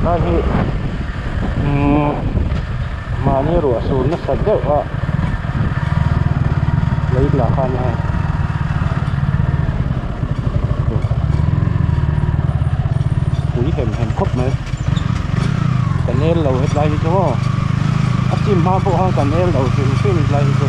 tlai hi umm mahni ruah sur nasa deuh a lei hnah khan a hawng pui hem hem khawp mai ka nel lo hetlai hi chu hawh a chim hma pawh khan ka nel lo hrim hrim hetlai hi chu.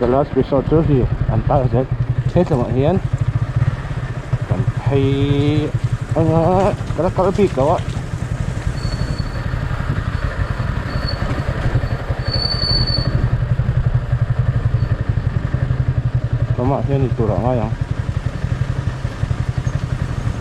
The last resort chu hei an tar zel he tlem ah hian kan phei anga ka la kal bik lo a mamah hian eitur ah a ngai ang.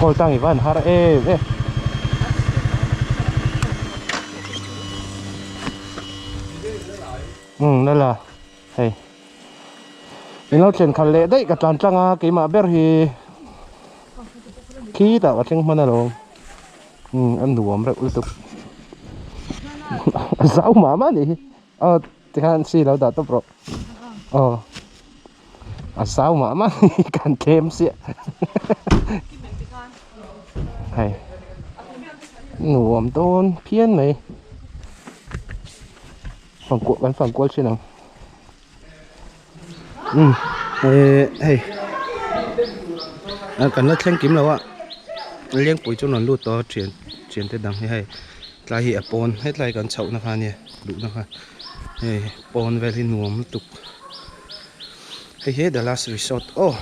Call tangi van har em em Umm la la hei In lo thlen khat leh daih ka tlan tlang a keimah ber hi khi tah ka thleng hman a lo umm a nuam reuh lutuk a zau mah mah ni hi a Tihan si lo dah tawp rawh aw a zau mah mah hi kan tlem siah hei nuam dawn phian mai fankuah kan fankual thin ang. umm ehh hei kan la thleng kim loh a lengpui chu rawn lut tawh a thian thian te dang hi hei tlai hi a pawn hetlai kan chhoh na kha ania luhna kha hei pawn vel hi nuam lutuk hei hi the last resort aw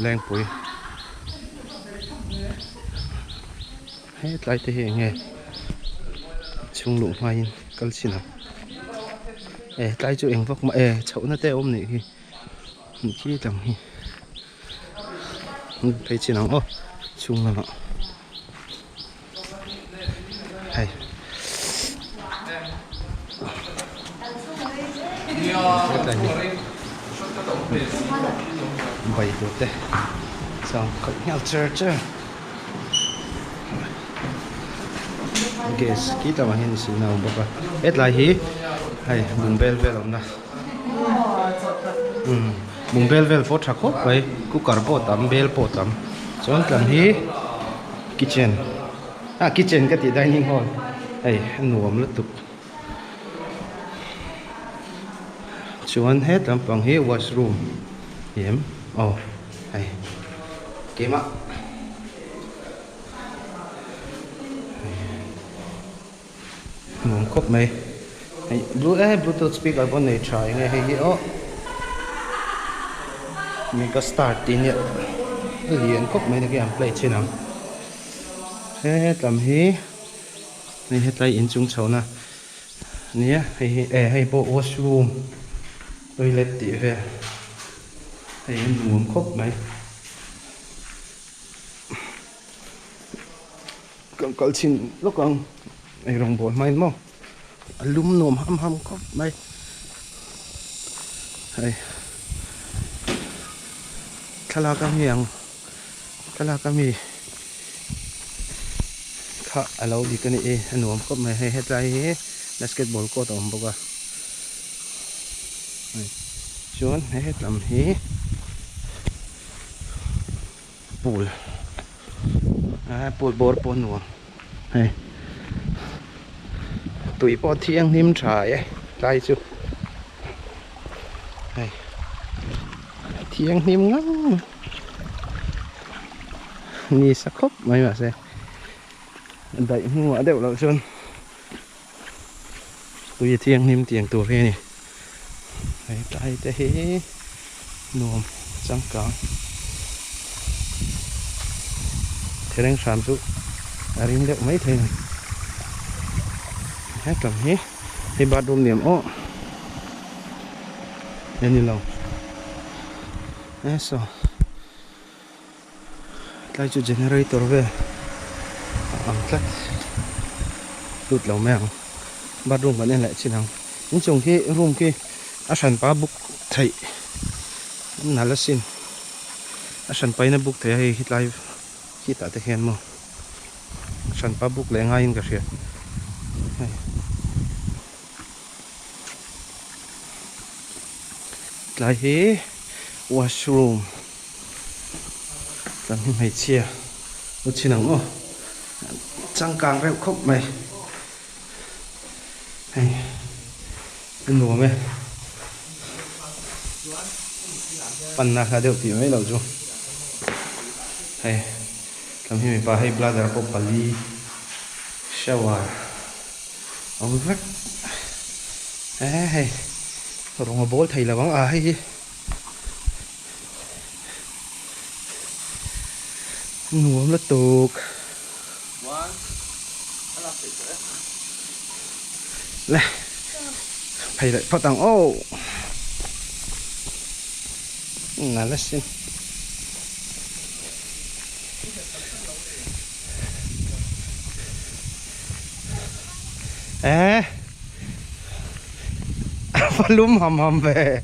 lengpui. Hetlai te hi eng nge chhung luh hma in kal chin ang e tlai chu eng vak mah e chhoh na te awm nih hi nih chi tang hi hun phei chin ang aw chhung lamah hei hetlai hi bike te chang khat nghal cher cher. gas khi tak mangin silna a awm bawk a hetlai hi hei bung bel vel awmna imm bung bel vel pawh tha khawp mai cooker pawh a tam bel pawh a tam chuan tlan hi kitchen a kitchen ka tih dining hall hei a nuam lutuk. Chuan het lampang hi washroom em aw hei keimah nuam khawp mai hei blu eh bluetooth speaker pawh nei tha eng nge hei hi awh mega star tih ine lian khawp mai nihhi an play chin ang he hetlam hi. Hei hetlai in chung chhohna nia hei hi e hei pawh washroom toilet tih vel hei hi nuam khawp mai kan kal chhin lawk ang hei rawn bawl hmain maw a lum nuam ham ham khawp mai hei thlalak ang hi ang. Ka lak a mi kha a lo dik a ni e, a nuam khawp mai hei, hetlai hi basketball court a awm bawk a, chuan he hetlam hi pool, pool bawr pawh a nuam. Hei tui pawh thianghlim tha e tlai chu hei thianghlim ngam ni sa khawp mai mahse daih hnungah deuh loh chuan Tui a thianghlim tiang tur hi a ni. He tlai te hi nuam changkang thereng hram chu a ring deuh mai thei a ni. Hetlawng hi hei bathroom ni awm awh a ni lo. Esaw. Tlai chu generator ve a ang tlat lut lo mai ang bathroom kan en leh chin ang inchung khi room khi a hran pa book theih nala sin a hran paina book theih a hei hi tlai khitah te khian maw hran pa book leh ngaiin ka hria hei tlai hi washroom. Kan hi hmeichhia u chin ang maw changkang reuh khawp mai hei i nuam e panna kha deuh tih mai lo chu hei kan hi mipa hei bladder pawh pali shower awm vek he hei rawng a bawl thei lo ang a hei hi nuam la tawk le phei leh phawt ang aw nâ la sin eee va lum ham ham ve.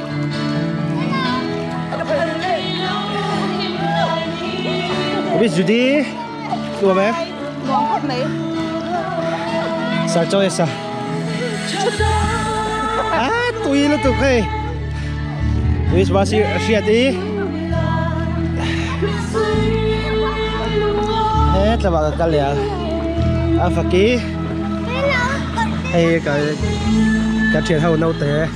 Miss Judy Tua me Nuam khawp mai Sir Choice a Ah tui lu tuk hei Miss Basi Hriat i He tlama ka kal leh a A faki Hei ka ka thian ho naute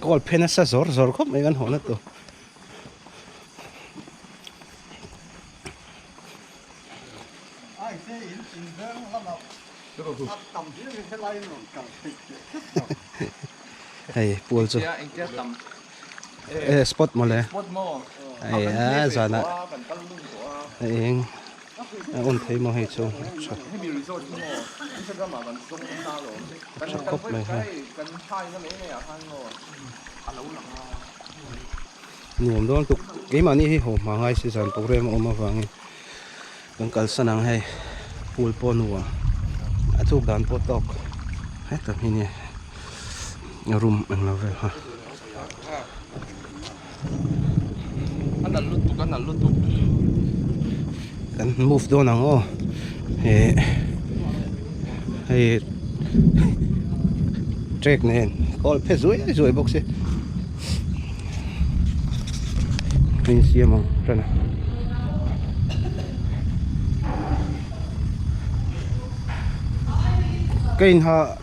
Goal phe nasa zawr zawr khawp mai kan hawn atu. Hei, pual chu. Eh, spot maw le? Spot maw. Hei, a zana. Hei eng. A awm phei maw hei chu a tha a tha khawp mai ha nuam dawn tuk keimahni hi haw hmangai si zan programme a awm avangin kan kalsan ang hei pool pawh nuam a chuk dan pawh tawk hetah hming nge room englo vel ha. a nalh lutuk a nalh lutuk kan move dawn ang aw eh hei track nen kawl phe zuai zuai bawk si hei an siam ang tan a kei in ha.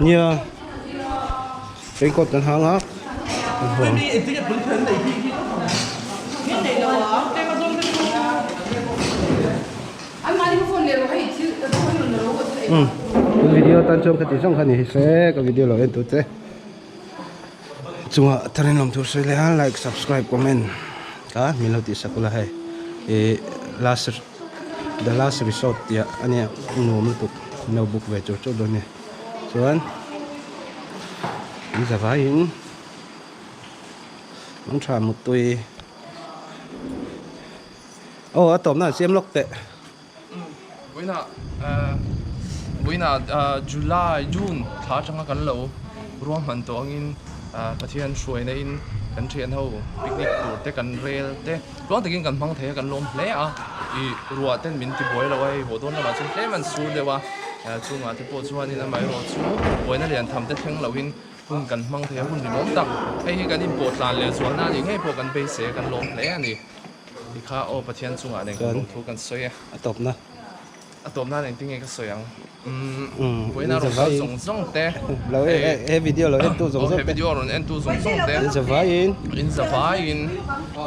Nia, raincoat kan hang a. Kan video tan chuan ka ti zawng kha ni hi se ka video lo en tur te chungah thar in lawm tur sawi leh a like subscribe comment ka min lo tih sak ula hei last . The last resort tih a nia nuam lutuk no book ve chur chur dawn nia chuan an za vai in Mangtha Mutui aw a tawpna an siam lawk teh Buina Buina July June thla atanga kan lo ruah hman tawh angin Pathian hruaina in kan thianho picnic tur te kan rel te. Tluang takin kan hmang thei a, kan lawm hle a, i ruah ten min ti buai lo a, hei Hawdawr lamah chuan tlem an sur deuh a, chungah te pawh chuan in amaherawh chu buaina lian tham te thleng loh in hun kan hmang thei a, hun ringawm tak, hei hi kan inpawh tlan leh zual na anih ngei pawh kan beise a, kan lawm hle a ni, tikha aw Pathian chungah nen kan lawmthu kan sawi a. A tawp nan engtin nge ka sawi ang umm buaina rawn sawi zawng zawng te he video lo en tu zawng zawng te he video a rawn en tu zawng zawng te inza vaiin inza vaiin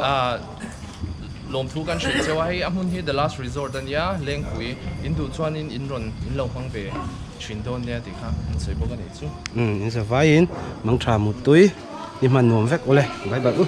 ah lawm thu kan hreh cheu a hei a hmun hi the last resort a nia lengpui in duh chuanin in rawn in lo hmang ve thin dawn nia tih kha an sawi bawk a nih chu umm inza vaiin mangtha muttui i hman nuam vek awle bai bai u.